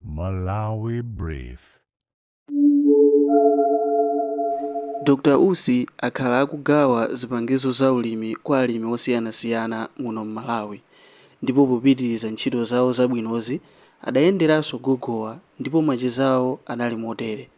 Malawi Brief. Dr Usi akhala akugawa zipangizo za ulimi kwa alimi osiyanasiyana muno m'Malawi ndipo popitiriza ntchito zawo zabwinozi adayenderanso gogowa ndipo macheza awo anali motere.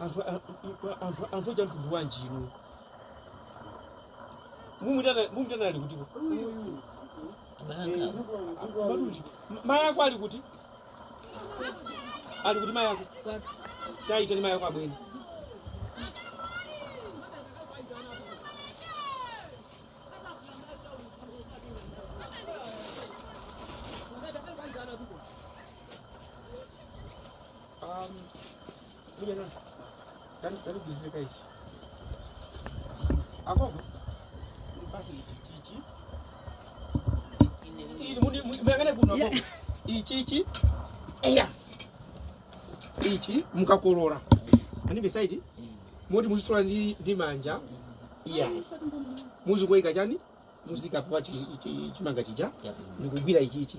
anthu a- a- anthu anthu a mtundu wanji inu mumutana mumutana ali kuti matunji mayi ako ali kuti ali kuti mayi ako taitani mayi ako abwere Kuja nani? Nani nani kizile kaishi? Agogo. Ni basi ni chichi. Ili muni mungana kuno agogo. Iyi chichi. Eya. Ichi mukakorora. Ani beside moti muzisola ndi ndi manja. Iya. Muzikoika chani? Muzika pa chi- chi- chimanga chija. Ndikugwira ichi ichi.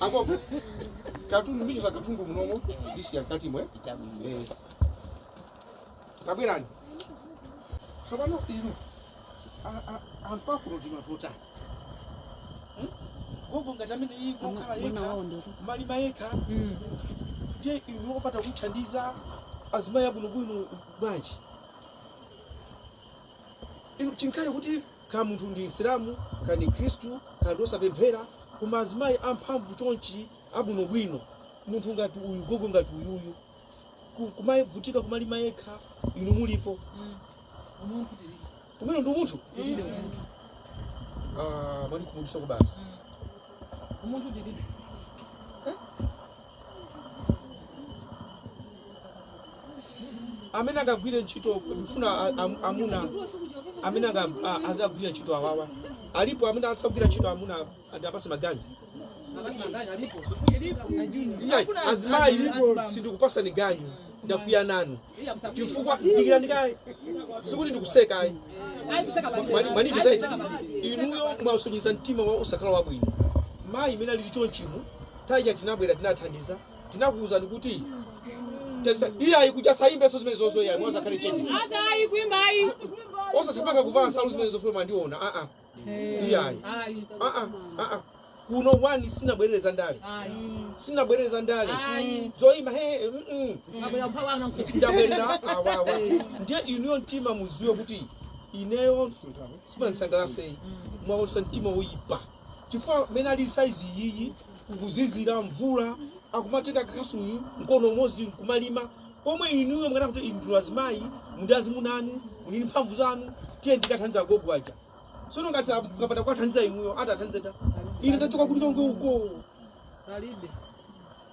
agogo katundu ndicho za katundu munomo ndisiye m'katimu Eh. tabwerani tsopano inu a- a- anthu akuno ndinu anthu otani gogo ngati ameneyi kukhala yekha kumalima yekha ndiye inu osawathandiza azimayi abwinobwino bwanji Inu chingakhale kuti kaya munthu ndi Msilamu, kaya ndi Mkhristu, kaya ndi osapemphera, koma azimayi amphamvu chonchi abwinobwino, munthu ngati uyu, gogo ngati uyuyu, ku- kumavutika kumalima yekha, inu mulipo Umunthu tili. umenewo ndi umunthu Tili umunthu. Ah, mwandikhumudwitsa kwabasi Umunthu tili. amene angagwire ntchito ndikufuna a- am- amuna amene anga- a- azagwire ntchito awawa alipo amene azagwire ntchito amuna ndiwapase maganyu Iya, azimayi sindikupasani ganyu ndakwiya nanu chifukwa dikirani kaye sikuti ndikuseka ayi Mani- manipi zaidi inuyo mwasonyeza mtima wosakhala wabwino mayi mmene alili chonchimu Taija tinabwera tinathandiza tinakuwuzani kuti tesa- iyayi kuja musayimbenso zimenezonso iyayi mwangokhala chete Azayi kuimba ayi. osathamanga kuvala nsalu zimenezo kufuna mundione aa iyayi Ayi. aa aa kuno wani sindinabwerere zandale Ayi. sindinabwerere zandale Ayi. zoyima he mm, mm. Kabla mpaka ana mkuu. ndabwerera awawa ndiye inuyo mtima mudziwe kuti ineyo simunandisangalatse mwaonesa mtima woyipa chifukwa mmene alili saizi iyiyi kuzizira mvula akumatenga kakhasu uyu mkono umodzi kumalima pomwe inuyo mukanati inu ndinu azimayi muli ndi azimuna anu muli ndi mphamvu zanu tiyeni tikathandize agogo aja sono ngati mukapanda kuwathandiza inuyo atawathandiza ndani ine ndachoka ku Lilongwe uko palibe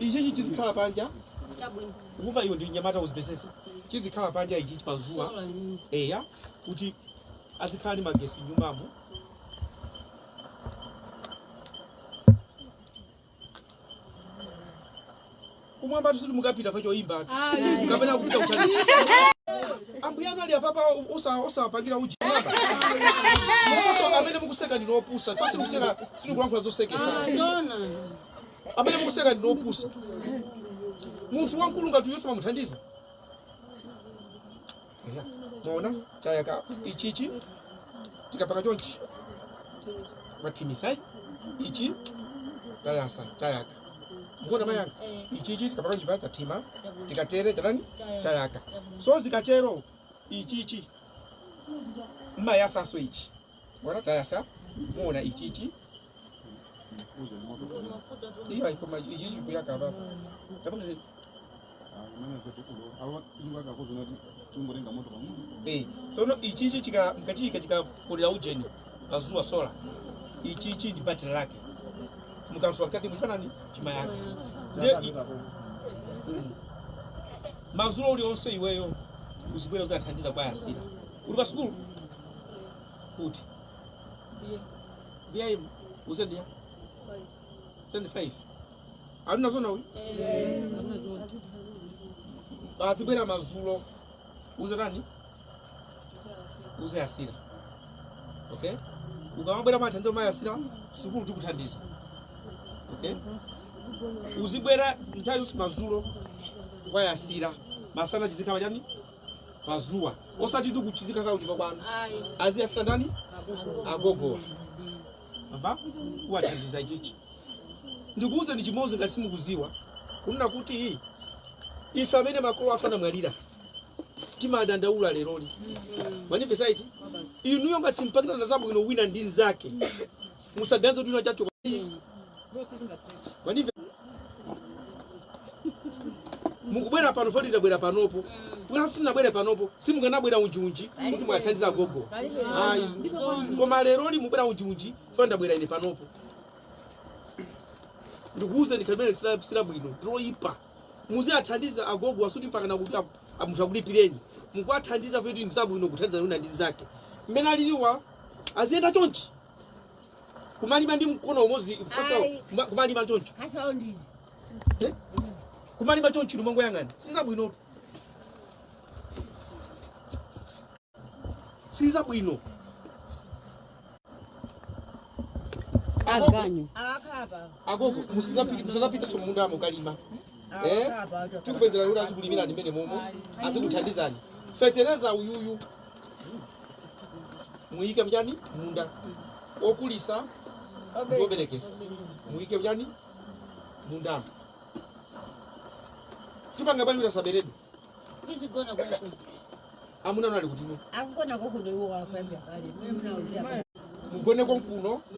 Ichichi chizikhala panja. Ukumva iwe ndi nyamata uzimvesese. Chizikhala panja ichichi pa zuwa. Eya kuti azikhala ndi magesi nyumbamo. Kumwambatu sikuti mukapita pa choimba. Kapena kupita kutchalitchi. Ambuya anali apapa osawapangira ujeni. Mukuseka amene mukuseka ndinu opusa. Basi mukuseka sindikulankhula zosekesa. amene mukuseka ndinu opusa munthu wamkulu ngati uyo osamamuthandiza Eya, mwaona chayaka ichichi tikapanga chonchi mwathimisa ichi tayasa chayaka mukuona mayanga ichichi tikapanga chonchi chathima tikatere chatani chayaka so zikatero ichichi mmayasaso ichi Bwana tayasa, muona ichichi iyo aikoma ichichi kuyaka apapo kapanga eh sono ichichi chika mkachiika chika kulira ujeni pazuwa sola ichichi ndi battery lake mukaswa mkati mfanani chimayaka ndiye i- mazulo ulionse iweyo uzibwera uziwathandiza kuwayasira uli pa sukulu kuti ndiye usendiya standard five alina zoona uyu azibwera mazulo uzatani uzawayasira okay ukamabwera kuwathandiza kuwayasira sukulu tikuthandiza okay uzibwera nthawi zonse mazulo kuwayasira masana chizikhala chani pazuwa osatitu kuchitika kakuti pakwanu ayi aziyasira ndani agogo agogo wamva kuwathandiza ichichi ndikuuze ndi chimodzi ngati simukuziwa kunena kuti ife amene makolo athu anamwalira timadandaula leroli mwandimvesa eti inuyo ngati simupangirana zabwino wina ndi nzake musaganize kuti unachacho Mwandimva? mukubwera pano foti ndabwera panopo bwera sinabwere panopo simukanabwera unjiunji kuti mwathandiza agogo ayi koma leroli mubwera unjiunji foti ndabwera ine panopo ndikuuze ndi khalidwe silabwino ndiloyipa muziathandiza agogo osati mpakana kuti aku- a- munthu akulipireni mukuathandiza foti ndizabwino kuthandiza wina ndi nzake mmene aliliwa aziyenda chonchi kumalima ndi mkono umodzi kuposa- Ayi. kuma- kumalima choncho kasawo ndine Eh? kumalima choncho inu mangoyang'ana sizabwinotu sizabwino aganyu awakhapa agogo musizapita musazapitaso m'munda mukalima Eh? awakhapa tikupezera kuti azikulimirani mmene momo azikuthandizani fetereza uyuyu muyike mjani m'munda okulisa oberekesa muyike mjani mundamo tipanga bwanji kuti asaberedwe Azigona kwa mtu. amuna ano ali kutino Akugona kwa kuno iwo wakwambia pale. Mimi mnauzia. mugone konkuno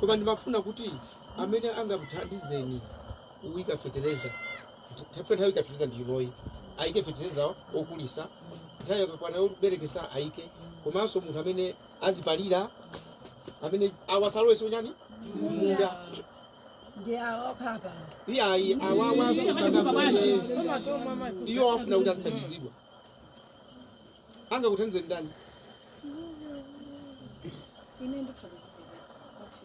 koma ndimafuna kuti amene angakuthandizeni kuyika fetereza tafe nthawi yoika fetereza ndiyiloyi ayike fetereza okulisa nthawi ikakwana yoberekesa ayike komanso munthu amene azipalira amene awa asaloweso nyani m'munda ndi awakhapa iyayi awawaso sangafune komatoma mayi iwo afuna kuti azithandizidwa angakuthandize ndi ndani ine ndithandizikira kuti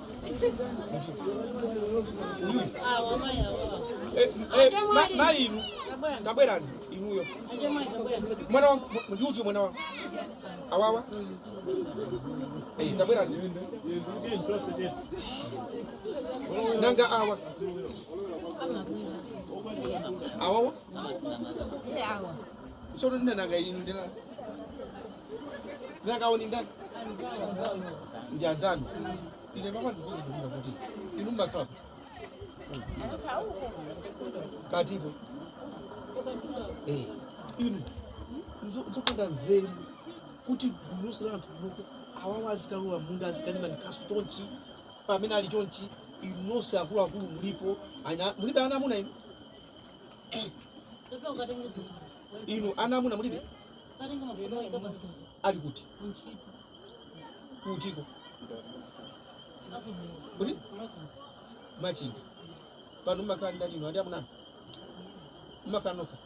Eh, eh, ma- mayi inu tabwerani inuyo mwana wanu ndi uti mwana wanu awawa Eh, tabwerani nanga awa awawa Sono nina nanga inu ndina. Nanga awo ndi ndani? Ndi anzanu. Ine mama ndikuzi ndikuza kuti. Inu mmakhala. Katipo. Eh. Inu. Nzo- Nzopanda nzeru. Kuti gulu lonse la anthu kuloko awawa azikalowa m'munda azikalima ndi kasu chonchi pamene ali chonchi inu nonse akuluakulu mulipo ana mulibe ana amuna inu inu ana amuna mulibe ali kuti kutiko kuti machinga pano mumakhala ndani inu ati amuna mumakhala nokha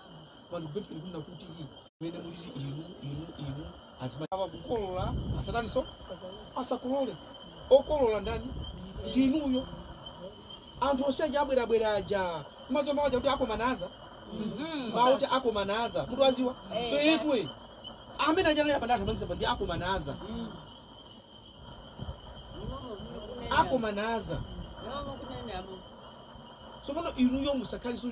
pano kupemphera kunena kuti iyi mene mulili inu inu inu azimawa kukolola asataniso asakolole okolola ndani ndi inuyo anthu onse aja abwerabwera aja mazimayi aja kuti akomanaza mawu kuti akomanaza mutu aziwa petwe amene aja anali apanda athamangisa pa ndi akomanaza akomanaza tsopano inuyo musakhaliso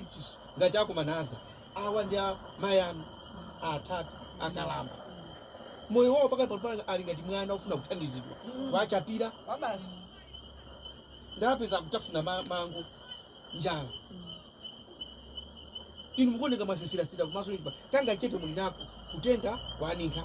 ngati akomanaza awa ndi a mayi anu atatu akalamba moyo wawo pakati pano ali ngati mwana ofuna kuthandizidwa wachapira basi ndapeza akutafuna ma- mango njala inu mukuoneka mwasisirasira komanso kangachepe muli nako kutenda kwaninkha